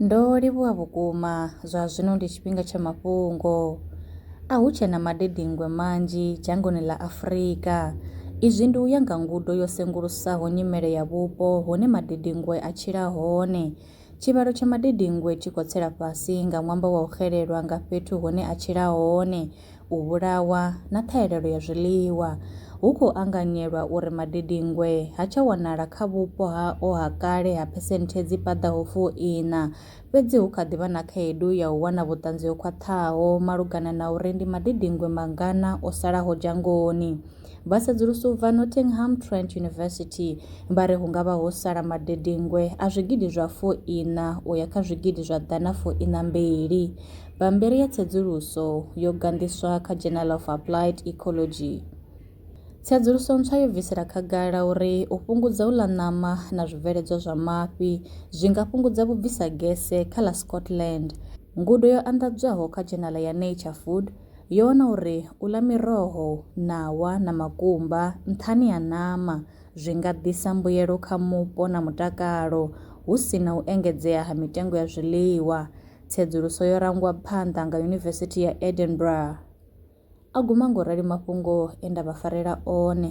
Ndo livhuwa vhukuma, zwa zwino ndi tshifhinga tsha mafhungo. A hu tshe na madedengwe manzhi dzhangoni ḽa Afrika. Izwi ndi u ya nga ngudo yo sengulusaho nyimele ya vhupo hune madedengwe a tshila hone. Tshivhalo tsha madedengwe tshi khou tsela fhasi nga ṅwambo wa u xelelwa nga fhethu hune a tshila hone. u vhulawa na ṱhahelelo ya zwiḽiwa, hu khou anganyelwa uri madedinngwe ha tsha wanala kha vhupo hao ha kale ha phesenthe dzi paḓaho fu iṋa, fhedzi hu kha ḓi vha na khaedu ya u wana vhuṱanzi ho khwaṱhaho malugana na uri ndi madedinngwe mangana o salaho dzhangoni. Vha sedzulusa u bva Nottingham Trent University vha ri hu nga vha ho sala madedengwe a zwigidi zwa fu iṋa u ya kha zwigidi zwa ḓana fu iṋa mbili. Bammbiri ya tsedzuluso yo ganḓiswa kha Journal of Applied Ecology. Tsedzuluso ntswa yo bvisela khagala uri u fhungudza u ḽa ṋama na zwibveledzwa zwa mafhi zwi nga fhungudza vhubvisa gese kha ḽa Scotland. Ngudo yo anḓadzwaho kha dzhenala ya Nature Food, Yo wana uri u ḽa miroho, ṋawa na makumba nṱhani ha ṋama zwi nga ḓisa mbuyelo kha mupo na mutakalo, hu si na u engedzea ha mitengo ya zwiḽiwa. Tsedzuluso yo rangwa phanḓa nga Yunivesithi ya Edinburgh. A guma nga u rali mafhungo e nda vha farela one.